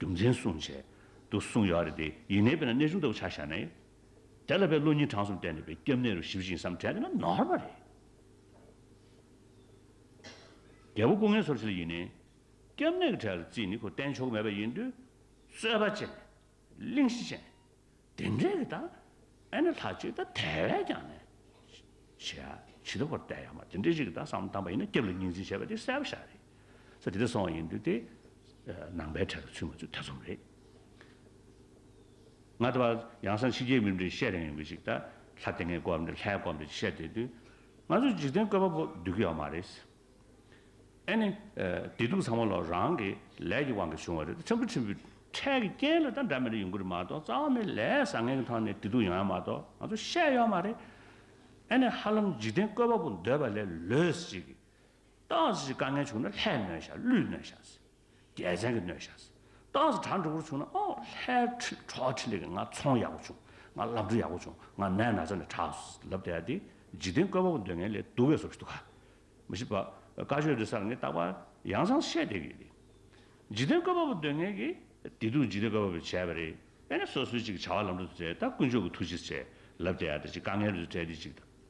རྒྱུ་མཚན་གསུངས། བྱས་འདུག་གསུངས་ཡོད་རེད་དེ་ཡིན་ནའི་དཔེར་ན་གནས་ཆུང་ལྟ་བུ་ཆགས་བཞག་ན་ཡིན། དེ་ལ་བའི་བློ་གཉིས་གྲངས་གསུམ་བསྟན་འདུག་པས་སྐྱབས་གནས་རུ་ཞི་བ་ཞིག་ཡིན་བསམ་དྲན་ན་ནོར་བ་རེད། རྒྱལ་པོ་སྐུ་ངལ་སོར་ཕྱེ་ལ་ཡིན་ནའི། སྐྱབས་གནས་ཀྱི་གྲལ་ལ་བརྩིས་ནས་ཁོ་བསྟན་ཆོག་གི་མེད་པ་ཡིན་དུས། རྩོད་པ་བྱས་ནས། གླེང་གཞི་བྱས་ནས། དེ་འདྲའི་རིགས་དང་ཨེ་ནི་ལྷ་གཅིག་དང་དེ་བས་ཀྱང་ནི། ཞེས་ཡང་ཇི་ལྟ་བུར་བལྟ་ཡང་མ་དེ་འདྲའི་རིགས་དང་བསམ་གཏམ་པ་ཡིན་ན་སྐྱབས་ལ་གཉིས་འཛིན་བྱེད་པ་དེ་གསལ་བོ་ཤར་རེད། ས་དེ་འདྲ་སོང་བ་ཡིན་དུས་དེ། ནང་པའི་གྲལ་དུ་ཚུད་མ་ཚུད་ཐེ་ཚོམ་རེད། ང་ལྟ་བ་ཡང་བསམ་ཕྱི་རྒྱལ་མི་འདྲའི་བཤད་རན་ཡོང་གི་ཅིག་ད་ལྷ་དེ་སྔའི་སྐོར་འདྲ་ལྷའི་སྐོར་འདྲ་ཅིག་བཤད་བསྡད་དུས། ང་ཚོ་འཇིག་རྟེན་བཀོད་པ་པོ་སྡོད་ཀྱི་ཡོག་མ་རེད། ཨེ་ནི། བདེ་སྡུག་ཚང་མ་ལོ་རང་གི་ལས་ཀྱི་དབང་གིས་བྱུང་བ་རེད་དེ་ཁྲིམས་ཕུ་ཁྲིམས་ཕུ་ཁྲལ་གྱི་རྐྱེན་ལ་ད་འདྲ་མི་རེ་ཡོང་གི་རེད་མ་གཏོགས་རྩ་བ་ནས་ལས་བཟང་ངན་གྱི་ཐོག་ནས་བདེ་སྡུག་ཡོང་ཡ་མ་གཏོགས་ང་ཚོ་ཤེས་ཡོད་མ་རེད། ཨེ་ནི་ཧ་ལམ་འཇིག་རྟེན་བཀོད་པ་པོ་འདོད་པ་ལས་ལོས་ཅིག། ཏག་ཅིག་དཀའ་ངལ་བྱུང་ན་ལྷད་མོད་ཤག་བླུད་མོད་ཤག་ཟེར། རྒྱལ་མཚན་གྱི་སྣོད་བཞག། ཏང་སི་གྲ་འགྲོ་ཀུར་བྱུང་ན་ཨོ་ལྷའི་ཁྲི་གྲོགས་ཁྲི་ལེགས་ཀྱི་ང་ཚོང་ཡག་པོ་བྱུང་ང་བླ་བྲེ་ཡག་པོ་བྱུང་ང་ནད་ན་ཚ་ནས་དྲག་ལབ་བསྡད་ཡ་དེ་འཇིག་རྟེན་བཀོད་པ་པོ་འདོད་ངེས་ལས་སྡུག་བས་སོ་བཞི་སྡུག་ག་མི་ཤི་བ་དཀའ་ཤོས་དེ་སར་ངས་བཏགས་པ་ཡང་ཚང་བཤད་བསྡད་ཀྱི་ཡོད་དེ། འཇིག་རྟེན་བཀོད་པ་པོ་འདོད་ངེས་ཀྱི་དེ་སྡུག་འཇིག་རྟེན་བཀོད་པ་པོས་བྱས་པ་རེད་པས་ན་སོ་སོའི་ཅིག་བྱ་བ་ལམ་འགྲོ་དུ་བྲལ་ད་དཀོན་མཆོག་གི་ཐུགས་རྗེས་བྲལ་ལབ་བསྡད་ཡ་དེ་ཅིག་དཀའ་ངལ་རེ་རེ་བྲལ་དེ་ཅིག་ད།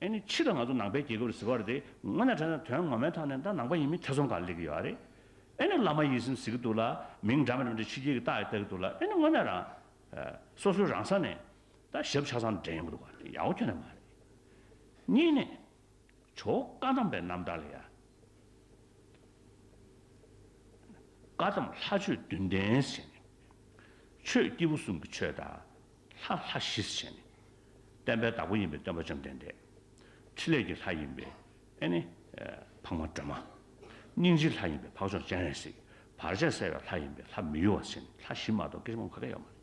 ཨེ་ནི་ཕྱིས་ལ་ང་ཚོ་ནང་པའི་རྒྱལ་ཁབ་ལ་གཟིགས་པར་དེ་སྔོན་ན་དྲན་ན་དོན་ངོ་མའི་ཐོག་ནས་ད་ནང་པ་ཡིན་མིན་ཐེ་ཚོམ་གང་སླེབས་ཀྱི་ཡོད་རེད། ཨེ་ནི་བླ་མ་ཡིད་སེམས་གཟིགས་ཀྱི་འདུག་ལ་མིང་འདྲ་མི་འདྲ་མི་འདྲ་ཕྱི་རྒྱལ་གྱི་རྟགས་ཡི་བལྟ་གི་འདུག་ལ་ཨེ་ནི་དངོས་གནས་རང། སོ་སོའི་རང་ས་ནས། ད་ཞབས་ཆགས་སམ་འདྲེན་ཡོང་གི་འདུག་ག་དེ་ཡག་པོ་ཁྱོན་ནས་མ་རེད། གཉིས་ནས། ཇོ་བོ་བཀའ་གདམས་པའི་རྣམ་ཐར་ལ་ཡ། བཀའ་གདམས་ལྷ་ཆོས་བདུན་ལྡན་ཟེར་ནས། ཆོས་སྐྱེས་བུ་གསུམ་གྱི་ཆོས་དང། ལྷ་ལྷ་བཞི་ཟེར་ནས། བསྟན་པའི་བདག་པོ་ཡིན་པའི་སྟོན་པ་བཅོམ་ལྡན་འདས། ཕྲིན་ལས་ཀྱི་ལྷ་ཡིན་པས་ཨེ་ནི། འཕགས་མ་སྒྲོལ་མ། སྙིང་རྗེའི་ལྷ་ཡིན་པས་འཕགས་མཆོག་སྤྱན་རས་གཟིགས། བར་ཆད་བསལ་བའི་ལྷ་ཡིན་པས་ལྷ་མི་གཡོ་བ་ཆེན་ལྷ་བཞི་མ་གཏོགས་སྐད་ཆ་སྨྲ་མཁན་ཁ་ག་ཡོད་མ་རེད།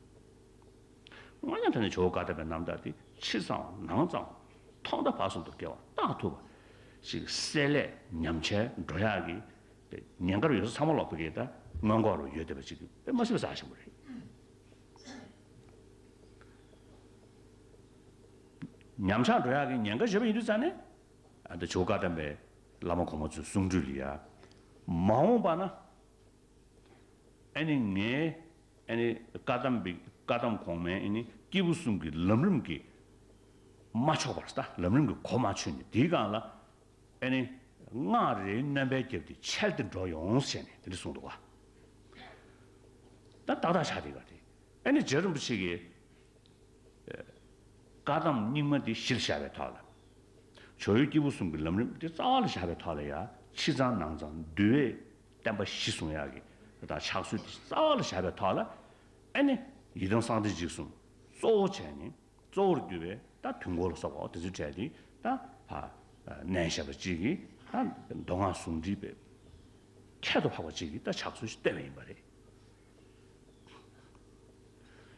སྔོན་ཉམས་ཐོས་ནས་ཇོ་བོ་བཀའ་གདམས་པའི་རྣམ་དག་དེ་ཕྱི་ཙམ་འམ་ནང་ཙམ་འམ་ཐོག་མཐའ་བར་གསུམ་དུ་བཀལ་བ་རྟགས་ཐུབ་པ་ཞིག་གསལ་ལེ་ཉམས་ཆལ་འགྲོ་ཡག་གི། ཉེན་ཁར་ཡོད་ས་ཚང་མ་ལོག་པའི་གི་ད་སྔོན་འགོག་རུ་ཡོད་བསྡད་པ་ཅིག་གི་དཔེ་མ་སྲིད་པ་ཟ་ཞིང་པོ་རེད། ཉམས་ཆག་འགྲོ་ཡག་གི་ཉེན་ཁ་བཞེས་པ་ཡིན་དུས་རྩ་ནས་ད་ཇོ་བཀའ་གདམས་པའི་བླ་མ་གོང་མ་ཚོའི་གསུང་འགྲོས་ལ་ཡ། མ་འོངས་པ་ན་ཨེ་ནི་ངའི་ཨེ་ནི་བཀའ་གདམས་པའི་བཀའ་གདམས་གོང་མའི་ཨེ་ནི་སྐྱེས་བུ་གསུམ་གྱི་ལམ་རིམ་གྱི་མ་ཆོག་པར་ལམ་རིམ་གྱི་གོ་མ་ཆོད་ནས་དེའི་སྒང་ལ་ཨེ་ནི། སྔགས་རེའི་རྣམ་པས་བརྒྱབ་སྟེ་འཆལ་ཏེ་འགྲོ་ཡོང་ཟེར་ནས་དེ་འདྲ་གསུངས་འདུག་ག་ད་ཏག་ཏག་ཆགས་འདུག་ག་དེ་ཨེ་ནི་རྗེ་རིན་པོ་ཆེ་གིས་བཀའ་གདམས་རྙིང་མ་འདི་གཞིར་བཞག་པའི་ཐོག་ལ་བྱོ་ཡུལ་སྐྱེས་བུ་གསུམ་གྱི་ལམ་རིམ་འདི་རྩ་བ་ལ་བཞག་པའི་ཐོག་ལ་ཡང་ཕྱི་གཙང་ནང་གཙང་བསྡུ་བའི་བསྟན་པ་གཞི་བཟུང་ཡག་གི་དང་ཕྱག་སྲོལ་འདི་རྩ་བ་ལ་བཞག་པའི་ཐོག་ལ་ཨེ་ནི། ཡི་དམ་གསང་བདེ་འཇིགས་གསུམ་གཙོ་བོ་བྱས་ནས། གཙོ་བོར་གྱུར་པའི་ད་དུས་འཁོར་ལོ་སོགས་པའོ་དེ་ཚོའི་གྲས་ཀྱི་ད་ནས་ཞེས་པ་གཅིག་གིས་ད་མདོ་སྔགས་ཟུང་འབྲེལ་པའི་ཁྱད་དུ་འཕགས་པ་གཅིག་གིས་ད་ཕྱག་སྲོལ་བསྟན་པ་ཡིན་པ་རེད།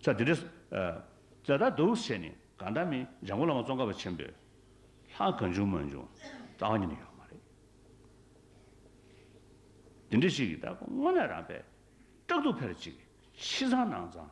ས་དེ་རེས་ད་ད་དུས་ཞེས་ནི་གང་ད་མི་འཇམ་མགོན་བླ་མ་ཙོང་ཁ་པ་ཆེན་པོས་ལྷ་གང་བྱུང་མ་བྱུང་རྩ་བ་ཉིད་ནས་ཡོད་མ་རེད། དེ་འདྲ་ཞིག་གིས་ད་སྔོན་ལས་རང་པས་སྐྲག་སྡུག་འཕེར་གཅིག་གིས་ཕྱི་ཚང་ནང་ཚང་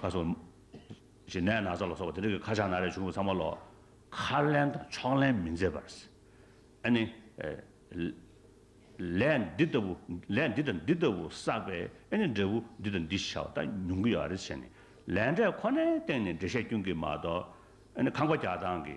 ཁ་ཟུམ། ཞེས་ནད་ན་ཚ་ལ་སོགས་པ་དེ་དག་གི་ཁ་ཆག་ན་རེ་བྱུང་བས་ཚང་མ་ལོག། ཁ་ལེན་དང་ཕྱོགས་ལེན་མི་མཛད་པར། ཨ་ནི། ལས་འདི་ལྟ་བུ། ལས་འདི་དང་འདི་ལྟ་བུ་བསགས་པས་ཨེ་ནི་འབྲས་བུ་འདི་དང་འདི་ཤར་བ་ད་ཉུང་གི་ཡོད་རེ་བྱས་ནས། ལས་འབྲས་ཁོ་ནའི་སྟེང་ནས་འགྲེལ་བཤད་སྐྱོན་གྱིས་མ་གཏོགས། ཨ་ནི་ཁང་པ་རྒྱག་སྟངས་ཀྱི་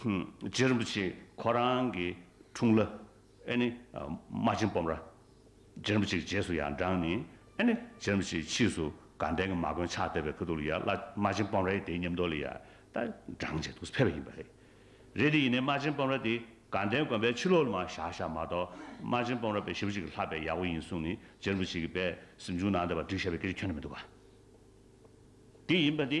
རྗེ་རིན་པོ་ཆེ་ཁོ་རང་གི་འཁྲུངས་ལ་ཨེ་ནི་རྨ་ཆེན་སྤོམ་ར་རྗེ་རིན་པོ་ཆེ་གི་རྗེས་སུ་ཡང་འབྲངས་ནས་ཨེ་ནི་རྗེ་རིན་པོ་ཆེའི་ཕྱིས་སུ་དགའ་ལྡན་གྱི་མ་དཀོན་ཕྱག་འདེབས་པའི་ཕུ་ཐུག་ལ་ཡང་བླ་རྨ་ཆེན་སྤོམ་རའི་དེའི་ཉམས་རྟོགས་ལ་ཡང་ད་འབྲངས་བྱས་འདུག་ཕེབས་པ་ཡིན་པ་རེད། རེད་དེ་ཡིན་ནས་རྨ་ཆེན་སྤོམ་ར་དེ་དགའ་ལྡན་དགོན་པའི་ཕྱི་ལོགས་ལ་མ་བཞག་བཞག་མ་གཏོགས་རྨ་ཆེན་སྤོམ་ར་པའི་ཞེ་བོ་ཅིག་གི་ལྷག་པའི་ཡག་པོ་ཡིན་གསུངས་ནས་རྗེ་རིན་པོ་ཆེ་གི་པའི་གཟིམ་ཆུང་ནང་དེ་བ་འབྲི་བཞག་པའི་སྐད་ཆ་ཁྱོན་ན་མི་འདུག་ག་དེ་ཡིན་པ་དེ་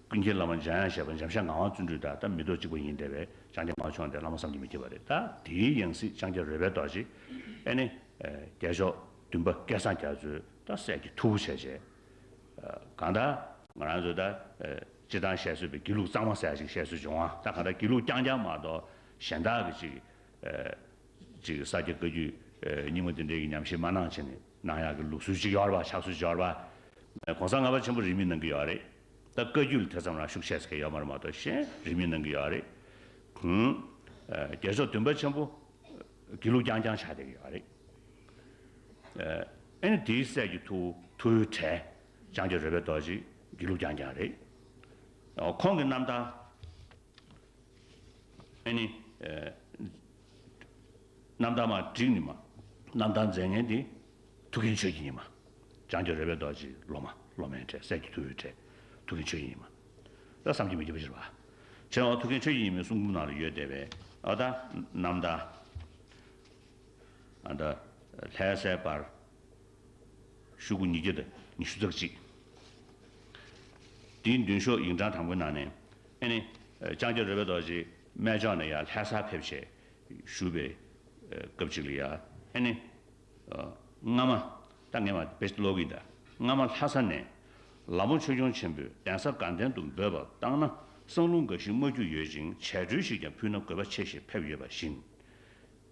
ཀུན་མཁྱེན་བླ་མ་འཇམ་དབྱངས་བཞད་པ་འཇམ་ཤ་ངག་དབང་བརྩོན་འགྲུས་དག་ལྟ་མི་རྟོག་གཅིག་པ་ཡིན་བདེ་བའི་ལྕང་སྐྱ་མར་ཕྱོགས་འདི་བླ་མ་བསམ་གྱིས་མི་ཁྱབ་པ་རེད་ད་དེའི་ཡང་སྲིད་ལྕང་སྐྱ་རོལ་པའི་རྡོ་རྗེ་ཨེ་ནི། རྒྱལ་མཆོག་བདུན་པ་སྐལ་བཟང་རྒྱ་མཚོའི་ད་སྲས་ཀྱི་ཐུ་བོ་བྱས་བྱས། གང་ལྟ། ང་རང་ཚོས་ད་སྤྱི་བཏང་བཤད་སྲོལ་པའི་དགེ་ལུགས་གཙང་མ་ཟེར་ཡ་ཅིག་བཤད་སྲོལ་བྱུང་ཨ་ད་གང་ལྟ་དགེ་ལུགས་རྐྱང་རྐྱང་མ་གཏོགས་གཞན་དག་གི་ཅིག་ཅིག་ས་སྐྱ་བཀའ་རྒྱུད་རྙིང་མ་འདི་འདྲའི་གི་ཉམས་ཞིབ་མ་གནང་ཕྱིན་ནས་གནང་ཡག་གི་ལུགས་སྲོལ་ཅིག་ཡོད་ར་བ་ཆགས་སྲོལ་ཅིག་ཡོད་ར་བ། གོང་ས་ལྔ་པ་ཆེན་པོ་རིས་མེད་གནང་གི་ཡོད་རེད། ད་བཀའ་བརྒྱུད་ལ་དེ་ཙམ་རང་ཤུགས་ཆེ་ཟེར་མཁན་ཡོད་མ་རེད་མ་གཏོགས་གཞན་རིས་མེད་གནང་གི་ཡོད་རེད། རྒྱལ་མཆོག་བདུན་པ་ཆེན་པོ་དགེ་ལུགས་རྐྱང་རྐྱང་ཆགས་བསྡད་ཀྱི་ཡོད་རེད། ཨེ་ནི་དེའི་སྲས་ཀྱི་ཐུ་བོའི་གྲས་ལྕང་སྐྱ་རོལ་པའི་རྡོ་རྗེ་དགེ་ལུགས་རྐྱང་རྐྱང་རེད། ཁོང་གི་རྣམ་ཐར། ཨེ་ནི། རྣམ་དག་མ་བསྒྲིགས་ནི་མ། རྣམ་དག་མཛེས་ངན་འདི། ཐུགས་ཀྱི་མཆོད་ཀྱི་ཉི་མ། བྱང་ཆུབ་རེ་བའི་རྡོ་རྗེའི་སློབ་མ། སློབ་མའི་གྲས་སྲས་ཀྱི་ཐུ་བོའི་གྲས། ཐུགས་ཀྱི་མཆོད་ཀྱི་ཉི་མ། ལ་བསམ་གྱིས་མི་ཁྱབ་པ་ཞེས་པ། ཕྱི་ནང་འོག་ཐུགས་ཀྱི་མཆོད་ཀྱི་ཉི་མའི་གསུང་འབུམ་ནང་ལ་ཡོད་བསྡད་པས་ཨ་ད། རྣམ་དག། ཨ་ད། ལྷའི་སྲས་པར། ཤུག་གུ་ཉིས་བརྒྱ་དང་ཉི་ཤུ་རྩ་གཅིག། དེའི་མདུན་ཤོག་ཡིག་འབྲང་དང་པོའི་ནང་ནས། ཨེ་ནི། ལྕང་སྐྱ་རོལ་པའི་རྡོ་རྗེས་སྨད་ལྕོག་ནས་ཡར་ལྷའི་སར་ཕེབས། ཞེས་ཞུ་བའི་སྐབས་གཅིག་ལ་ཡང། ཨེ་ནི། སྔ་མ། ད་ངེས་པ་བེ་ལོག་གིས་འདྲ། སྔ་མ་ལྷ་ས་ནས། ལ་མོ་ཆོས་སྐྱོང་ཆེན་པོས་གདན་ས་དགའ་ལྡན་དུ་འབོད་པ་བཏང་ན་སང་ལུང་འགའ་ཞིག་སྨྲ་རྒྱུ་ཡོད་ཅིང་བྱད་སྒྲོལ་ཞིག་ཀྱང་ཕུལ་ན་དགོས་པ་ཆེ་ཞེས་ཕེབས་ཡོད་པ་བཞིན།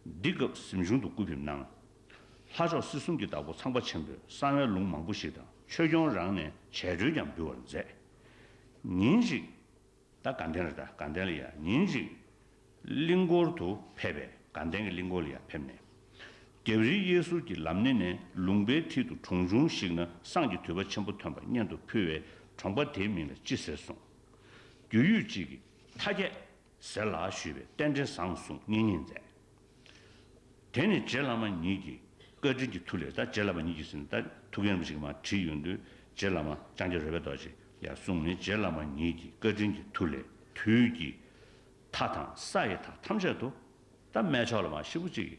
འདི་སྐབས་གཟིམ་ཆུང་དུ་སྐུ་ཕེབས་གནང། ལྷ་མཆོག་སྲིད་གསུམ་གྱི་བདག་པོ་ཚངས་པ་ཆེན་པོས་གསང་བའི་ལུང་མང་པོ་ཞིག་དང་ཆོས་སྐྱོང་རང་ནས་བྱད་གྲོལ་ཀྱང་འབུལ་བར་མཛད། ཉིན་ཞིག། ད་དགའ་ལྡན་རེད་ད་དགའ་ལྡན་ལ་ཡར་ཉིན་ཞིག། གླིང་སྐོར་དུ་ཕེབས་པས་དགའ་ལྡན་གྱི་གླིང་སྐོར་ལ་ཡར་ཕེབས་ནས། རྒྱབ་རི་གཡས་ཟུར་གྱི་ལམ་སྣེ་ནས་ལུང་པའི་མཐིལ་དུ་གྲོང་ཆུང་ཞིག་ན་སངས་ཀྱི་དུད་པ་ཆེན་པོ་ཐོན་པ་སྙན་དུ་ཕུལ་བས་གྲོང་པ་དེའི་མིང་ལ་ཅི་ཟེར་གསུངས། རྒྱུས་ཡུད་ཅིག་གིས། མཐའ་རྒྱས། ཟེར་ལ་ཞུས་པས་རྟེན་འབྲེལ་བཟང་གསུངས་སྙིང་ཉེ་མཛད། དེ་ནས་རྗེ་བླ་མ་ཉིད་ཀྱིས་བཀའ་དྲིན་གྱི་ཐུགས་ལས་ད་རྗེ་བླ་མ་ཉིད་ཀྱིས་ཟིན་ད་ཐུགས་ཡོད་ནམ་ཞིག་མ་དྲིས་ཡོང་དུས་རྗེ་བླ་མ་ལྕང་སྐྱ་རོལ་པའི་རྡོ་རྗེ་ལས་གསུངས་ནས་རྗེ་བླ་མ་ཉིད་ཀྱིས་བཀའ་དྲིན་གྱི་ཐུགས་ལས་དུས་ཀྱི་མཐའ་དང་ས་ཡི་མཐའ་ཐམས་ཅད་དུ་ད་སྨད་ཕྱོགས་ལ་མ་ཤི་བོ་གཅིག་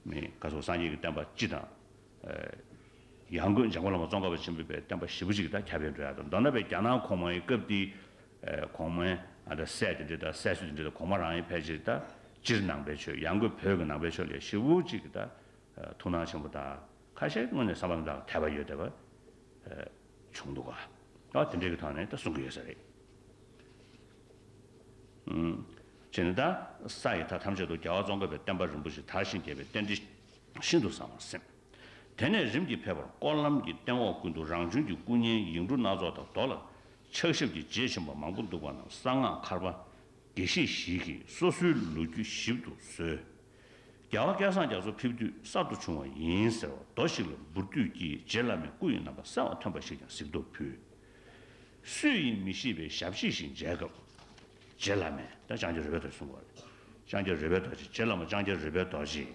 མེད་བཀའ་སྲུང་སངས་རྒྱས་ཀྱི་བསྟན་པ་སྤྱི་དང། ཡང་སྒོས་འཇམ་མགོན་བླ་མ་ཙོང་ཁ་པ་ཆེན་པོས་པའི་བསྟན་པ་ཞི་བོ་གཅིག་ད་ཁྱབ་པའི་འགྲོ་ཡ་དང་མདོར་ན་པའི་རྒྱ་ནག་གོང་མའི་སྐབས་དེའི་གོང་མའི་ཨ་དང་སྲས་དེ་འདི་དང་སྲས་སུ་དེ་འདི་དང་གོང་མ་རང་ཡིན་ཕལ་ཆེར་དང་སྤྱིར་ནང་པའི་ཆོས་ཡང་སྒོས་བོད་ཀྱི་ནང་པའི་ཆོས་ལས་ཤི་བོ་གཅིག་གི་དང་ཐུགས་སྣང་ཆེན་པོ་དང་ཁ་ཤས་དངོས་ནས་བསམ་པ་དང་དད་པ་ཡོད་དད་པ་བྱུང་འདུག་ག་དེ་འདྲའི་གི་ཐོག་ནས་དང་གསུང་གི་ཡོད་ས་རེད། ཅེས་ནས་དང་ས་ཡི་དག་ཐམས་ཅད་དུ་རྒྱལ་བ་ཙོང་ཁ་པའི་བསྟན་པ་རིན་པོ་ཆེ་དར་ཞིང་རྒྱས་པའི་རྟེན་འབྲེལ་ཤིན་ཏུ་བཟང་བར་སེམས། དེ་ནས་རིམ་གྱིས་ཕེབས་པར་སྐོར་ལམ་གྱི་སྟེང་འོག་ཀུན་ཏུ་རང་བྱོན་གྱི་སྐུ་བརྙན་ཡིག་འབྲུ་སྣ་ཚོགས་དང་རྡོ་ལ་ཕྱག་ཞབས་ཀྱི་རྗེས་ཆེན་པོ་མང་པོ་འདུག་པ་རྣམས་གསང་སྔགས་མཁར་པ་དགེ་བཤེས་ཞིག་གིས་སོ་སོའི་ལོ་རྒྱུས་ཞིབ་ཏུ་བཟོས། རྒྱལ་བ་སྐལ་བཟང་རྒྱ་མཚོ་ཕེབས་དུས་གསར་དུ་བྱུང་བ་ཡིན་ཟེར་བ་རྡོ་ཞིག་ལ་འབུར་དུས་ཀྱི་རྗེ་བླ་མའི་སྐུ་ཡི་རྣམ་པ་གསལ་བར་ཐོན་པ་ཞིག་ཀྱང་གཟིགས་རྟོག་ཕུལ། སུ་ཡིན་མི་ཤེས་པའི་ཞབས་ཕྱི་ཞིག་མཇལ་སྐབས། རྗེ་བླ་མས། ལྕང་སྐྱ་རུས་པའི་རྡོ་ཞེས་གསུངས་པ། ལྕང་སྐྱ་རུས་པའི་རྡོ་རྗེ་རྗེ་བླ་མ་ལྕང་སྐྱ་རུས་པའི་རྡོ་རྗེ།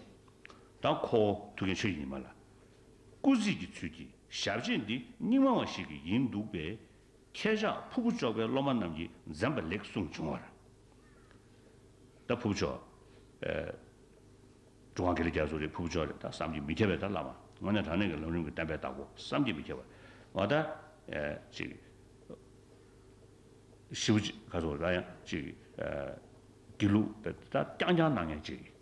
དང་ཁོ་བོ་ཐུགས་ཀྱི་ཆོས་ཉི་མ་ལ་སྐུ་གཟིགས་ཀྱི་ཚུལ་གྱིས་ཞབས་རྗེས་འདི་རྙིང་མ་བ་ཞིག་གི་ཡིན་འདུག་པས། ཁྱེད་ཅག་ཕུ་བོ་ཅོག་པའི་སློབ་མ་རྣམས་ཀྱིས་འཛེམ་པ་ལེགས་གསུངས་བྱུང་བར། ད་ཕུ་བོ་ཅོག་འགྲོ་གང་གི་ལ་རྒྱ་མཚོ་རེད་ཕུ་བོ་ཅོག་རེད་ད་བསམ་གྱིས་མི་ཁྱབ་པས་ད་བླ་མ་དངོས་གནས་དྲང་གནས་ཀྱི་ལམ་རིམ་གྱི་བསྟན་པའི་བདག་པོ་བསམ་གྱིས་མི་ཁྱབ་བ་ད་ཅིག་ཤི་བོ་ཅིག་ག་ཚོད་ལ་ཡང་ཅིག་དགེ་ལུགས་ད་རྐྱང་རྐྱང་གནང་ངེས་ཅིག།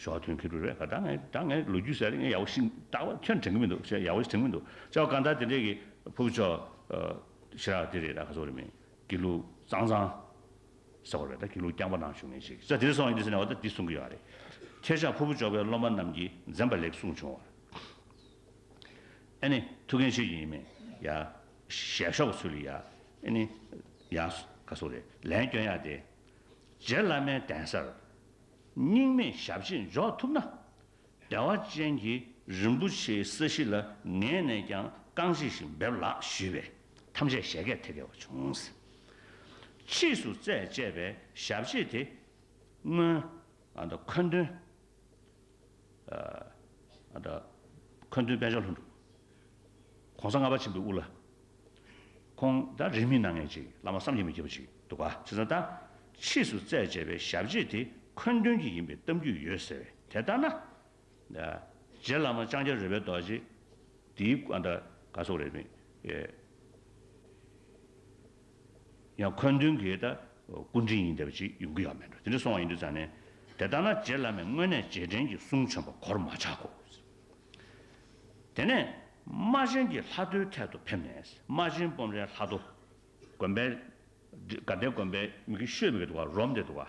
ཞོགས་དུས་ཁྱོད་རེ་བས་ག་ད་ད་ངས་ལོ་རྒྱུས་ཟེར་ཡག་པོ་ཞིག་ད་བར་ཁྱོད་དྲན་གི་མི་འདུག་ཞེས་ཡག་པོ་ཞིག་དྲན་གི་མི་འདུག་ཅའོ་གང་ད་དེ་འདྲས་ཀྱི་ཕུ་བོ་ཅོ་ཞེས་ར་དེ་རེད་ད་ག་ཚོགས་རེད་མིན་གྱི་ལུག་གཙང་གཙང་ཟེར་བ་རེད་ད་གྱི་ལུག་རྐྱང་པ་ནང་བཞུགས་ངེས་ཤིག་ཅའོ་དེ་རེད་སོང་ཡིན་འདི་ཟེར་ནས་བ་ད་འདི་གསུང་གི་ཡོད་ཨ་རེད་ཁྱེད་ཅག་ཕུ་བོ་ཅོ་བའི་སློབ་མ་རྣམས་ཀྱིས་འཛེམ་པ་ལེགས་གསུང་བྱུང་བར་ཨེ་ནི་ཐུགས་འགན་ཆེ་ཞིག་ཡིན་མིན་ཡ་ཞལ་ཞོགས་པ་ཚུལ་ཡ་ཨེ་ནི་ཡ་ག་ཚོགས་རེད་ལན་སྐྱོན་ཡ་དེ། རྗེ་བླ་མའི་གདན་སར་སྙིང་མེད་ཞབས་རྗེས་འཇོག་ཐུབ་ན། བདེ་བ་ཅན་གྱི་རིན་པོ་ཆེའི་ས་གཞི་ལ་ངེད་ནས་ཀྱང་རྐང་རྗེས་ཤིག་འབེབས་ལགས་ཞུས་པས་ཐམས་ཅད་བཞད་གད་ཐད་གད་བ་བྱུང། ཕྱིས་སུ་རྩད་བཅད་པའི་ཞབས་རྗེས་དེ་སྔོན། མཁོ་འདོན། འཁོན་སྟོན་དཔལ་འབྱོར་ལྷུན་གྲུབ། གོང་ས་ལྔ་པ་ཆེན་པོའི་དབུ་བླ། ཁོང་དང་རིང་མིན་སྣ་ལྔའི་གཅིག་བླ་མ་བསམ་གྱིས་མི་ཁྱབ་པ་ཞིག་འདུག་ག་ཚིག་ཟ་དང། ཕྱིས་སུ་བཙལ་བྱས་པའི་ཞབས་རྗེས་དེ་འཁོན་སྟོན་གྱི་ཡིན་པའི་གཏམ་རྒྱུད་ཡོད་ཟེར་བས་དེ་ལྟར་ན། རྗེ་བླ་མ་ལྕང་སྐྱ་རོལ་པའི་རྡོ་རྗེ་འདིའི། ཡང་འཁོན་མདུན་གྱི་ད་སྐུ་འདྲེན་ཡིན་བསྡད་པ་ཅིག་ཡོང་གི་ཡག་མེད་འགྲོ་དེ་འདྲ་སོང་བ་ཡིན་དུས་ཙང་ནས་དེ་ལྟ་ན་རྗེ་བླ་མས་དངོས་གནས་རྗེས་དྲན་གྱི་གསུང་བྱོན་པ་གོར་མ་ཆག་གོ། དེ་ནས་རྨ་ཆེན་གྱི་ལྷ་རྡོའི་ཐད་དུ་ཕེབས་ནས་རྨ་ཆེན་སྤོམ་རའི་ལྷ་རྡོ་དགོན་པའི་དགའ་ལྡན་དགོན་པའི་མི་གི་ཤོད་མི་གི་འདུག་ག་རོམ་དེ་འདུག་ག།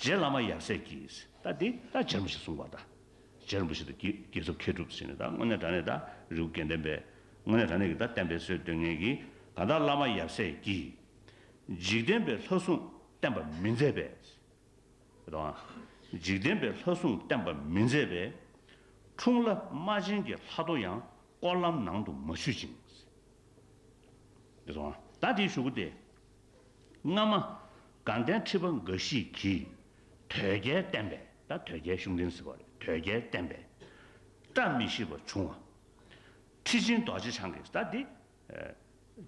རྗེ་བླ་མ་ཡབ་སྲས་ཀྱིས་ད་དེ་ད་རྗེ་རིན་པོ་ཆེ་གསུངས་པ་ད་རྗེ་རིན་པོ་ཆེ་ད་ཀྱེ་རྒྱལ་ཚབ་མཁས་གྲུབ་ཟེར་ནས་ད་དངོས་གནས་དྲ་གནས་ད་རེའུ་དགེ་འདུན་པས་དངོས་གནས་དྲ་གནས་ཀྱི་ད་བསྟན་པའི་སྲོལ་དོན་ངན་གྱིས་ག་ད་བླ་མ་ཡབ་སྲས་ཀྱིས་འཇིག་རྟེན་པའི་ལྷ་སྲུང་བསྟན་པ་མི་མཛད་པས། ག་དུ་འང། འཇིག་རྟེན་པའི་ལྷ་སྲུང་བསྟན་པ་མི་མཛད་པས། འཁྲུངས་བླ་རྨ་ཆེན་གྱི་ལྷ་ཐོ་ཡང་སྐོར་ལམ་ནང་དུ་མ་ཆུད་ཅིང། ག་དུ་འང། ད་དེའི་ཞུ་སྒོ་དེ་སྔ་མ། དགའ་ལྡན་ཁྲི་པ་འགའ་ཞིག་གིས། དོལ་རྒྱལ་བསྟན་པས་ད་དོལ་རྒྱལ་གཞུང་འདྲེན་ཟེར་བ་རེད་དོལ་རྒྱལ་བསྟན་པས། བཀྲ་མི་ཤིས་པ་བྱུང་བ། ཁྲི་ཆེན་རྡོ་རྗེ་འཆང་གིས་ད་འདི།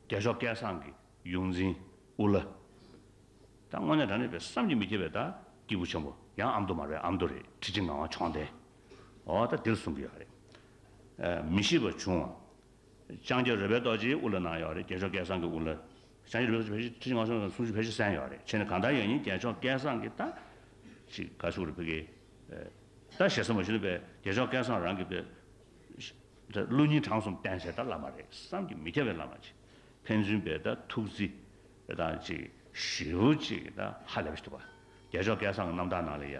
རྒྱལ་མཆོག་སྐལ་བཟང་གི་ཡོངས་འཛིན་དབུ་བླ། ད་དངོས་གནས་རང་རེ་བས་བསམ་གྱིས་མི་ཁྱབ་པའི་ད་སྐྱེས་བུ་ཆེན་པོ་ཡང་ཨ་མདོ་མ་རེད་ཨ་མདོ་རེད་ཁྲི་ཆེན་ངག་དབང་མཆོག་ལྡན། འོ་ད་འདིར་གསུང་གི་ཡོད་རེད། མི་ཤིས་པ་བྱུང་བ། ལྕང་སྐྱ་རོལ་པའི་རྡོ་རྗེའི་དབུ་ལ་གནང་ཡོད་རེད་རྒྱལ་མཆོག་སྐལ་བཟང་གི་དབུ་ལ། ལྕང་སྐྱ་རོལ་པའི་རྡོ་རྗེ་ཁྲི་ཆེན་སྔགས་ཕྱོགས་ཀྱི་གསུང་ཆོས་ཕལ་ཆེར་གསན་ཡོད་རེད་ཁྱེད་ནས་གང་ལྟར་ཡོད་ཉིན་རྒྱལ་མཆོག་སྐལ་བཟང་གི་ལྟ། ཅིག་དགའ་བསུ་རེད་ཕི་གེ། ལྟ་ཞེ་ས་མ་ཞུ་ན་བས་རྒྱལ་མཆོག་སྐལ་བཟང་རང་གི་བས། ད་ཀླུ་སྙིང་བྲང་གསུམ་བསྟན་བྱས་ད་བླ་མ་རེད་བསམ་གྱི་མི་ཁྱབ་བའི་བླ་མ་ཅིག་ཕན་ཚུན་བས་ད་ཐུགས་རྗེ། དེ་དང་གཅིག་བཞི་བོ་གཅིག་ད་ཧ་ལས་པ་ཞིག་འདུག་བ། རྒྱལ་མཆོག་སྐལ་བཟང་གི་རྣམ་ཐར་ནང་ལ་ཡ།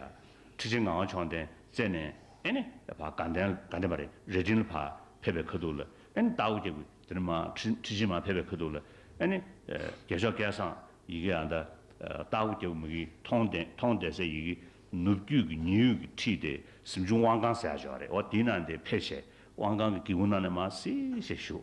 ཁྲི་ཆེན་ངག་དབང་མཆོག་ལྡན་རྩེ་ནས་ཨེ་ནི་བ་དགའ་ལྡན་དགའ་ལྡན་པ་རེ་རེ་དྲིན་ལ་བ་ཕེབས་པའི་ཁ་ཐུག་ལ་ཨེ་ནི་རྟགས་བུ་སྐྱེ་དགུའི་དེ་ནི་མ་ཁྲི་ཁྲི་ཆེན་མ་ཕེབས་པའི་ཁ་ཐུག་ལ་ཨེ་ནི། རྒྱལ་མཆོག་སྐལ་བཟང་ཡི་གེ་ཨ་ད། རྟགས་བུ་སྐྱེ་བུ་མི་གི་མཐོང་ལྡན་མཐོང་ལྡན་སའི་ཡི་གེ་ནུབ་རྒྱུད་ཀྱི་ཉི་ཡུད་ཀྱི་ཁྲིད་དེ་གཟིམ་ཆུང་དབང་ཀང་ཟེར་ཡག་ཞོག་རེད་བ་དེ་ནང་དེ་ཕེབས་ཆེད་དབང་ཀང་གི་གི་གུ་ནང་ནས་མ་སི་ཞེས་ཞུ།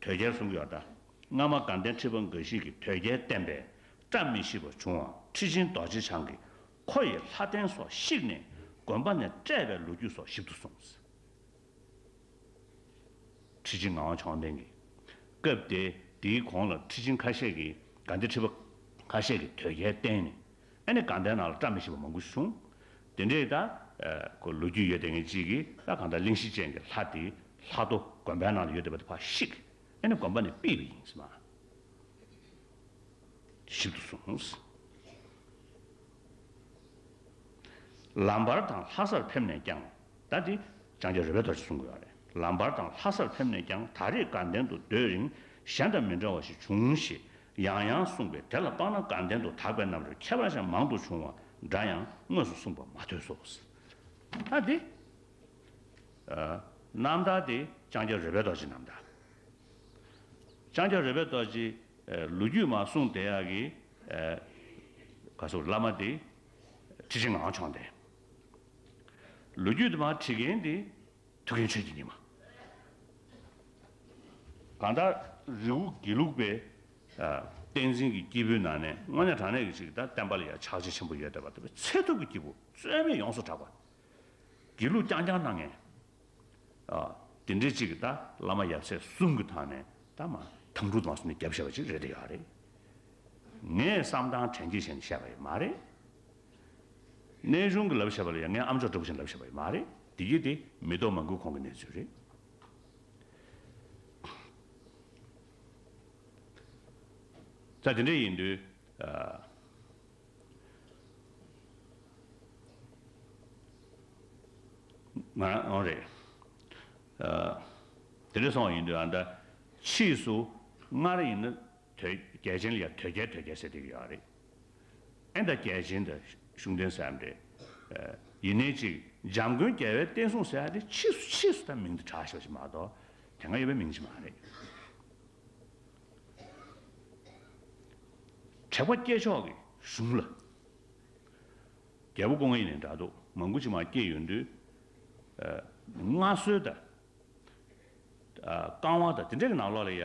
དོལ་རྒྱལ་གསུམ་གྱི་བར། སྔ་མ་དགའ་ལྡན་ཁྲི་པ་འགའ་ཞིག་གིས་དོལ་རྒྱལ་བསྟེན་པས་བཀྲ་མི་ཤིས་པ་བྱུང་བ་ཁྲི་ཆེན་རྡོ་རྗེ་འཆང་གིས་ཁོ་ཡི་ལྷ་རྟེན་སོགས་བཤིག་ནས་དགོན་པ་ནས་བསྐྲད་པའི་ལོ་རྒྱུས་སོགས་ཞིབ་ཏུ་གསུངས། ཁྲི་ཆེན་ངག་དབང་མཆོག་ལྡན་གྱིས། སྐབས་དེ་དེའི་གོང་ལ་ཁྲི་ཆེན་ཁ་ཤས་ཀྱིས་དགའ་ལྡན་ཁྲི་པ་ཁ་ཤས་ཀྱིས་དོལ་རྒྱལ་བསྟེན་ནས་ཨ་ནི་གང་དེའི་ནང་ལ་བཀྲ་མི་ཤིས་པ་མང་པོ་ཞིག་བྱུང། དེ་འདྲའི་ད། ཁོ་ལོ་རྒྱུས་ཡོད་ལྡན་ངན་ཅིག་གིས་ལྷ་གང་དག་གླིང་བཞི་ཅན་གྱི་ལྷ་དེའི་ལྷ་རྡོ་དགོན་པའི་ནང་ལ་ཡོད་བསྡད་པ་དེ་ཕར་བཤིག། ཨ་ནི་དགོན་པ་ནས་སྤིད་པ་ཡིན་ཟེར་མ། ཞིབ་ཏུ་སོང། ལམ་བར་དང་ལྷ་སར་ཕེབས་ནས་ཀྱང་ད་དེ། ལྕང་སྐྱ་རོལ་པའི་དོར་ཞིག་བཟུང་དགོས་པ་རེད། ལམ་བར་དང་ལྷ་སར་ཕེབས་ནས་ཀྱང་ད་རེས་དགའ་ལྡན་དུ་སྡོད་རིང་གཞན་དང་མི་འདྲ་བ་ཞིག་བྱུང་ཞེས་ཡང་ཡང་གསུངས་པས་དེ་ལ་དཔག་ན་གང་གཏན་དུ་དག་པའི་རྣམ་རོལ་ཁྱད་པར་ཅན་མང་དུ་འབྱུང་བ་འདྲ་ཡང་དངོས་སུ་གསུངས་པ་མ་ཐོས་སོ། ཨ་ཏི། རྣམ་དག་སྟེ་ལྕང་སྐྱ་རོལ་པའི་རྡོ་རྗེ་རྣམ་དག། ལྕང་སྐྱ་རོལ་པའི་རྡོ་རྗེ། ལོ་རྒྱུས་མ་གསུངས་དེ་ཡག་གི། ག་སོ་བླ་མ་དེ། ཁྲི་ཆེན་ངག་འཕྱོང་སྟེ། ལོ་རྒྱུས་དེ་མ་བྲིས་མཁན་དེ། ཐུགས་ཡོན་ཆོས་ཀྱི་ཉི་མ། གང་དག་རིགས་དབུ་དགེ་ལུགས་པའི། བསྟན་འཛིན་གྱི་སྐྱེས་བུའི་ནང་ནས་དངོས་གནས་དྲང་གནས་ཀྱི་ཞིག་དང་བསྟན་པ་ལ་ཡང་ཕྱག་རྗེས་ཆེན་པོ་ཡོད་འདོད་པ་དེ་བས་ཚད་ཐུབ་ཀྱི་སྐྱེས་བུ་རྩོད་མེད་ཡོངས་སུ་གྲགས་པ། དགེ་ལུགས་རྐྱང་རྐྱང་སྣང་ངན། དེ་འདྲའི་ཅིག་གིས་ད་བླ་མ་ཡབ་སྲས་གསུམ་གྱི་ཐང་ནས་ད་མ་ཐང་གྲུ་དང་སོ་ནས་རྒྱབ་བཤད་པ་ཅིག་རེད་འདོད་ཡོད་རེད། ངས་བསམ་སྟངས་དྲན་རྒྱས་བྱས་ནས་བཤད་པ་ཡོད་མ་རེད། གནས་གཞུང་གི་ལབ་བཤད་པ་ལ་ཡང་ངས་ཨམ་ཅོག་སྒྲོག་བཞིན་ལབ་བཤད་པ་ཡིན་མ་རེད་འདི་གི་དེ་མི་དོ་མ་འགུལ་ཁོང་གི་གནས་ཚུལ་རེད། ད་དེ་འདྲ་ཡིན་དུས་ང་རང་ཨང་རེད། དེ་འདྲ་སོང་བ་ཡིན་དུས་ཨང་ད་ཕྱིས་སུ་སྔར་ཡིན་ན་དོལ་རྒྱལ་ཅན་ལ་ཡང་དོལ་རྒྱལ་དོལ་རྒྱལ་ཟེར་དུས་ཡོད་རེད། ཨན་དང་རྒྱལ་ཆེན་དང་གཞུང་བསྟེན་ཟེར་ཡ་མ་རེད། ཡིན་ནའི་ཅིག་འཇམ་མགོན་རྒྱལ་བའི་བསྟན་སྲུང་ཟེར་ཡ་དེ་ཕྱིས་སུ་ཕྱིས་སུ་ད་མིང་དུ་གྲགས་ཞེས་པ་ཞིག་མ་གཏོགས་དེ་སྔ་ཡོད་པའི་མིང་ཞིག་མ་རེད། དྲེགས་པ་སྐྱེས་མཆོག་གི་གཞུང་ལ། རྒྱལ་པོ་ཀོང་ཡེ་ནས་འདྲ་འདུག་མང་པོ་ཅིག་མ་སྐྱེས་ཡོད་འདུག། མངའ་གསོལ་དང། བསྐང་བ་དང་དེ་འདྲ་གི་ནང་ལོགས་ལ་ཡ།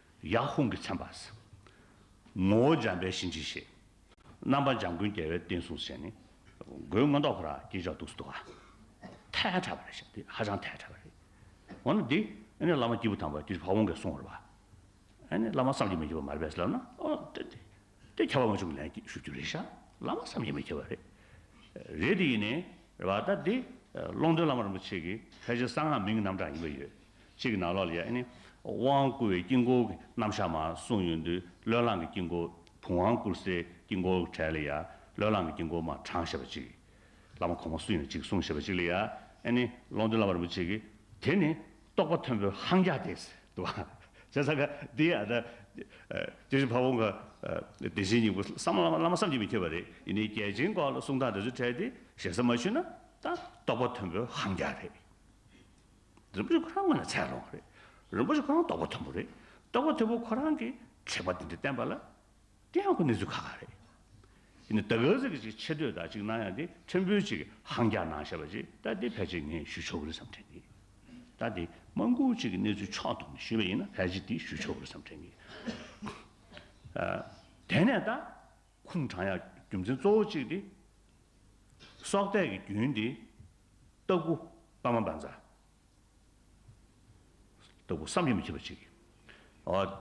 ཡག་ཧོང་གིས་མཚན་པ། ངོ་བོ་འཇམ་པའི་གཤིན་རྗེ་ཞེས། རྣམ་པ་འཇམ་མགོན་རྒྱལ་བའི་བསྟན་སྲུང་ཞེས་ནི། མགོའི་མངོན་རྟོགས་ཕོ་རག་སྐྱེས་ཆགས་གདུགས་སུ་འདུག། ཐལ་དྲགས་པ་རེད་བཤད་འདི་ཧ་ཅང་ཐལ་དྲགས་པ་རེད། འོ་ན་འདི་ནི་བླ་མ་སྐྱེས་བུ་དམ་པ་ཀྱིས་ཕ་བོང་གིས་བསྲུང་བར་བ། ཨ་ནི་བླ་མ་བསམ་གྱིས་མི་ཁྱབ་པ་མ་རེད་པས་ལབ་ན་ཨོ་དེ་དེ་དེ་ཁྱབ་པ་མ་བྱུང་གི་ལན་ཞུ་རྒྱུ་རེད་ཤག་བླ་མ་བསམ་གྱིས་མི་ཁྱབ་པ་རེད། རེད་དེ་ཡིན་ནའི་རེད་བ་ད་འདི་ཀློང་རྡོལ་བླ་མ་རིན་པོ་ཆེ་གིས་ཕལ་ཆེར་གསང་སྔགས་མིང་གི་རྣམ་གྲངས་ཡིན་པ་ཡོད། གཅིག་ནང་ལོགས་ལ་ཡང་ནི། དབང་བསྐུར་བའི་དཀྱིལ་འཁོར་གྱི་རྣམ་བཞག་མ་གསུངས་ཡོད་འདུག་བློས་བསླངས་ཀྱི་དཀྱིལ་འཁོར་བུམ་དབང་བསྐུར་སའི་དཀྱིལ་འཁོར་གྱི་གྲལ་ལ་ཡང་བློས་བསླངས་ཀྱི་དཀྱིལ་འཁོར་མ་དྲངས་ཞེས་པ་གཅིག། བླ་མ་གོང་མ་སུ་ཡིན་ན་གཅིག་གསུངས་ཞེས་པ་གཅིག་ལ་ཡང་ནི། ཀློང་རྡོལ་བླ་མ་རིན་པོ་ཆེ་གིས་དེ་ནི་རྟོགས་པ་མཐོན་པོའི་ཧང་རྒྱག་སྟེ་ཟེར་འདུག་བ། བྱས་ཙང་ཀ་འདི་ཡང་ན། དེ་བཞིན་ཕ་བོང་ཁ། བདེ་ཆེན་སྙིང་པོ་བསམ་བླ་མ་བླ་མ་བསམ་གྱིས་མི་ཁྱབ་པ་རེད་ཡིན་ནའི་རྒྱལ་ཆེན་སྐོར་ལ་གསུང་སྟངས་འདི་ཚོ་འཕྲལ་དེ་ཞེ་ས་མ་ཞུས་ན་ད་རྟོགས་པ་མཐོན་པོའི་ཧང་རྒྱག་རེད། རིན་པོ་ཆེ་ཁོ་རང་སྔོན་ལ་ཚད་ལོངས་རེད། རིན་པོ་ཆེ་ཁོ་རང་རྟོགས་པ་མཐོན་པོ་རེད། རྟོགས་པ་མཐོན་པོ་ཁོ་རང་གིས་དྲེགས་པ་འདི་འདྲ་བསྟན་པ་ལ། དེ་ཡང་ཁོ་གནས་ཚུལ་ཁ་ཁ་རེད། ཡིན་ནའི་ད་ག་ཟེར་གྱི་ཅིག་ཆེ་བསྟོད་དག་ཅིག་གནང་ཡ་དེ་ཕྲན་བུ་ཅིག་ཧང་རྒྱག་གནང་ཤེས་པ་ཅིག་ལྟ་དེ་ཕལ་ཆེར་ངས་ཞུས་ཆོག་གི་རེད་བསམ་དྲན་གི། ལྟ་དེ་དམངས་ཁུལ་ཅིག་གི་གནས་ཚུལ་ཕྱོགས་གཏོགས་ནས་ཞུས་པ་ཡིན་ན་ཕལ་ཆེར་དེ་ཞུས་ཆོག་གི་རེད་བསམ་དྲན་གི། དེ་ནས་ད། ཁུངས་དྲང་ཡང་རྒྱུ་མཚན་གཙོ་བོ་གཅིག་སྟེ། སྲོག་གཏད་ཀྱི་རྒྱུན་ཏེ། ལྟག་སྐུ། པདྨ་འབར་འཛག། ལྟ་བུ་བསམ་གྱིས་མི་ཁྱབ་པ་ཅིག།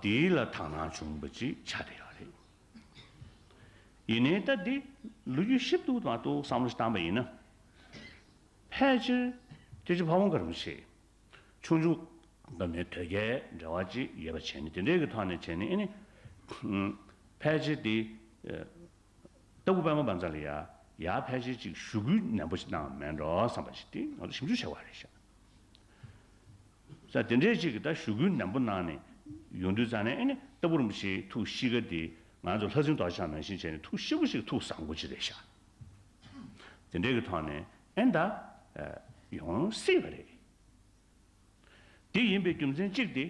འདི་ལ་དག་སྣང་འབྱུང་བ་ཅིག་བྱ་སྟེ། ཡིན་ནའི་ལྟ་འདི་ལུས་རྒྱུད་ཞིབ་ཏུ་མ་གཏོགས་བསམ་བློ་བཏང་བ་ཡིན་ན། ཕལ་ཆེར་ཁྱེད་ཀྱི་ཕ་བོང་ཁར་མི་ཆེ། ཆུང་ཆུང། འདི་ནི་དོལ་རྒྱལ་འབྲེལ་བ་ཅི་ཡོད་པ་བྱས་ནི་དེ་འདྲའི་གི་ཐག་ནས་བྱས་ནི་ཨེ་ནི། ཕལ་ཆེར་དེ། ལྟ་བུ་དཔལ་མོ་བ་འཛ་ལ་ཡ། ཡ་ཕལ་ཆེར་ཅིག་ཞུ་གུ་ནན་པོ་ཞིག་གནང་མེད་འགྲོ་བསམ་པ་ཞིག་དེ་ང་ཚོ་ཞིབ་འཇུག་བྱ་བ་རེད་ཤག། ས་དེ་འདྲའི་ཅིག་གི་ད་ཞུ་གུ་ནན་པོ་གནང་ནི། ཡོང་དུས་བཙལ་ནི་ཨེ་ནི་ལྟ་བུ་རིན་པོ་ཆེའི་ཐུགས་གཤིས་ཀ་དེ་ང་ཚོ་ལྷ་སྲིན་རྡོ་ཆག་ནང་བཞིན་བྱས་ནི་ཐུགས་གཤིས་པོ་ཞིག་ཐུགས་བཟང་པོ་ཅིག་རེད་ཤག། དེ་འདྲའི་གི་ཐོག་ནས་ཨེ་འདའ། ཡོང་སྲིད་པ་རེད། དེ་ཡིན་པའི་རྒྱུ་མཚན་གཅིག་སྟེ།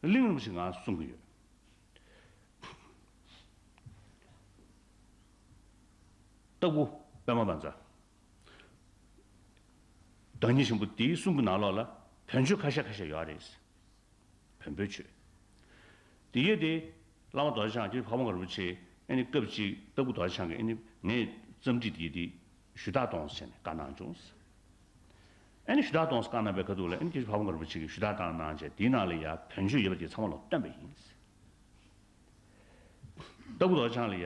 གླེང་སློང་ཞིག་ང་གསུང་གི་ཡོད། སྟག་བུ་པད་མ་བང་རྩ། བདག་ཉིད་ཆེན་པོ་དེའི་གསུང་གི་ནང་ལོགས་ལ་བོན་ཆོས་ཁ་ཤས་ཁ་ཤས་ཡོད་རེད། བོན་པོའི་ཆོས། དེ་ཡོད་དེ། བླ་མ་རྡོ་རྗེ་འཆང་གིས་ཕག་མོ་མཁའ་རུ་ཆེ་ཨེ་ནི་སྐབས་གཅིག་ལྟ་བུ་རྡོ་རྗེ་འཆང་གིས་ཨེ་ནི་ངས་བརྩམས་བྲིས་འདི་འདི་ཞུ་དག་གཏོང་ཟེར་ནས་བཀའ་གནང་བྱུང། ཨེ་ནི་ཞུ་དག་གཏོང་ས་བཀའ་གནང་པའི་ཁ་ཐུག་ལ་ཨེ་ནི་ཀྱེ་ཞེས་ཕག་མོ་མཁའ་རུ་ཆེ་གིས་ཞུ་དག་བཏང་གནང་བྱས་དེའི་ནང་ལ་ཡ་བོན་ཆོས་ཡོད་པ་དེ་ཚང་མ་ལ་སྟོན་པ་ཡིན། ལྟ་བུ་རྡོ་རྗེ་འཆང་ལ་ཡ་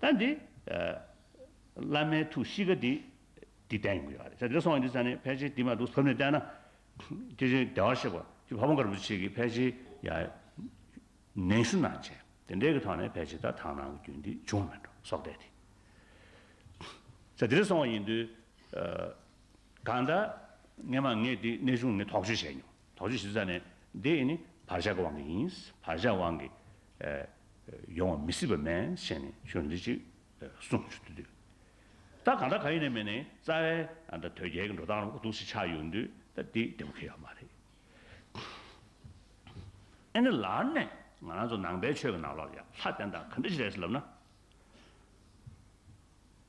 ད་འདི། བླ་མའི་ཐུགས་གཤིས་ཀ་འདི། འདི་བསྟན་ཡོང་གི་ཡོད་རེད། ད་འདི་སོང་བ་འདི་ས་ནི་ཕལ་ཆེར་འདི་མ་གཏོགས་ཟབ་ནས་བསྟན་ན། དེ་བཞིན་བདེ་བར་གཤེགས་པ་ཀྱི་ཕ་བོང་དཀར་པོ་ཆེ་གིས་ཕལ་ཆེར་ཡང། ནན་ཞུ་གནང་བྱས་དེ་འདྲའི་གི་ཐོག་ནས་ཕལ་ཆེར་ད་ཐང་ནང་གི་རྒྱུན་འདི་བྱུང་མེད་འགྲོ་སོགས་བསྡད་དེ། ད་འདིར་སོང་བ་ཡིན་དུས། གང་ལྟར། ངས་མ་ངས་འདི་གནས་ཆུང་ནས་དོགས་གཅོད་བྱས་མྱོང། དོགས་གཞི་ཞིབ་ཚགས་ནི། འདི་ནི་བར་གཞག་གི་དབང་གིས་ཡིན། བར་གཞག་དབང་གིས་ཡོང་བ་མི་སྲིད་པ་མེད་བཤད་ནས་ཆོས་འདི་ཅིག་གསུངས། ཆོས་འདི་དུས་ད་གང་དྲག་གང་ཡིན་ནས་མེད་ནས་རྩ་བའི་དོལ་རྒྱལ་གྱི་འགྲོ་སྟངས་ལ་གོ་ཐུག་ཞིག་ཆགས་ཡོང་དུས་ད་འདི་བདེ་བོ་ཁེལ་ཡོད་མ་རེད། ཨེ་ནི་ལར་ནས་ང་རང་ཚོ་ནང་པའི་ཆོས་ཀྱི་ནང་ལོགས་ལ་ལྷ་བསྟན་དང་ག་འདྲ་ཞིག་རེད་ལབ་ན།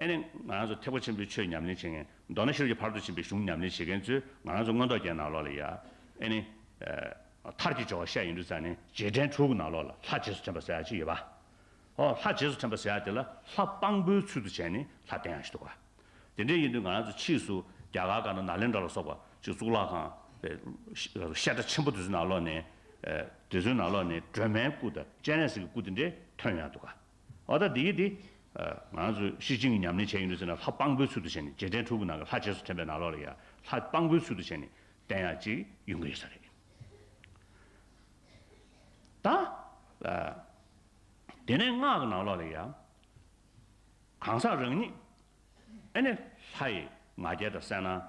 ཨེ་ནས། ང་རང་ཚོ་ཐེག་པ་ཆེན་པོའི་ཆོས་ཉམས་ལེན་བྱེད་མཁན། མདོར་ན་ཤེས་རབ་ཀྱི་བར་དོ་འབྱིན་པའི་གཞུང་ཉམས་ལེན་བྱེད་མཁན་ཚོས་ང་རང་ཚོ་མངོན་རྟོགས་ཀྱི་ནང་ལོགས་ལ་ཡ། ཨེ་ནས། མཐར་གྱིས་སྦྱོར་བ་བཤད་ཡིན་དུས་རྩ་ནས་རྗེས་དྲན་ཕྲུ་གུ་ནང་ལོགས་ལ་ལྷ་རྗེས་སུ་དྲན་པ་ཟེར་ཡ་གཅིག་ཡོད་པ། ཧོ། ལྷ་རྗེས་སུ་དྲན་པ་ཟེར་ཡ་དེ་ལ་ལྷ་དཔང་པོའི་ཚུལ་དུ་བྱས་ནས་ལྷ་བསྟེན་ཡ་ཞིག་འདུག་ག། དེ་འདྲས་ཡིན་དུས་ང་རང་ཚོ་ཕྱིས་སུ་རྒྱ་གར་དགའ་ན་ན་ལེན་དྲ་ལ་སོགས་པ་ཅིག་གཙུག་ལག་ཁང། བཤད་གྲྭ་ཆེན་པོ་དེ་ཚོའི་ནང་ལོགས་ནས། དེ་ཚོའི་ནང་ལོགས་ནས་སྒྲོལ་མའི་སྐུ་དང་སྤྱན་རས་གཟིགས་ཀྱི་སྐུ་དེ་འདྲས་ཐོན་ཡ་འདུག་ག། ཨོ་ད་དེ་ཡིན་ཏེ། ང་ཚོས་ཤི་གཅིན་གྱི་ཉམས་ལེན་བྱས་ཡོད་ཟེར་ན་ལྷ་སྤང་པོའི་ཚུལ་དུ་བྱས་ནས་རྗེས་དྲན་ཕྲུ་གུ་ནང་གི་ལྷ་རྗེས་སུ་དྲན་པའི་ནང་ལོགས་ལ་ཡང་ལྷ་སྤང་པོའི་ཚུལ་དུ་བྱས་ནས་བསྟན་ཡག་ཅིག་ཡོང་གི་ཡོད་ས་རེད། ད། དེ་ནས་སྔགས་ཀྱི་ནང་ལོགས་ལ་ཡང། གང་ཟག་རང་ཉིད། ཨེ་ནས་ལྷ་ཡི་ང་རྒྱལ་དང་གསལ་སྣང།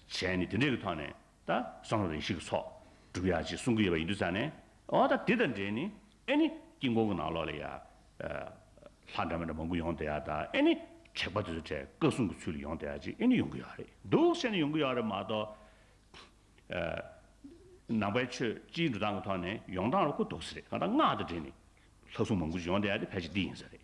བྱས་ནས་དེ་འདྲའི་གི་ཐོག་ནས། ད་སང་རེ་ཤིག་ཚོགས་སྒྲུབ་ཡ་ཅེས་གསུང་གི་ཡོད་པ་ཡིན་དུས་ཙང་ནས་ཨོ་ད་དེ་དང་འབྲེལ་ནས་ཨེ་ནི་དཀྱིལ་འཁོར་གྱི་ནང་ལོགས་ལ་ཡ་ལྷ་འདྲ་མི་འདྲ་མང་པོ་ཡོང་དེ་ཡ་དང་ཨེ་ནི་དྲེགས་པ་དེ་ཚོ་དྲེགས་བཀའ་སྲུང་གི་ཚུལ་ལ་ཡོང་དེ་ཡ་ཅེས་ཨེ་ནི་ཡོང་གི་ཡོད་རེད་འདུག་ཟེར་ནས་ཡོང་གི་ཡོད་རེད་མ་གཏོགས་ནང་པའི་ཆོས་སྤྱིའི་འགྲོ་སྟངས་ཀྱི་ཐོག་ནས་ཡོང་སྟངས་ལ་གོ་ལྡོག་ཟེར་རེད་གང་ལྟར་སྔགས་དང་འབྲེལ་ནས་ལྷ་སྲུང་མང་པོ་ཞིག་ཡོང་དེ་ཡ་དེ་ཕལ་ཆེར་འདི་ཡིན་ཟེར་རེད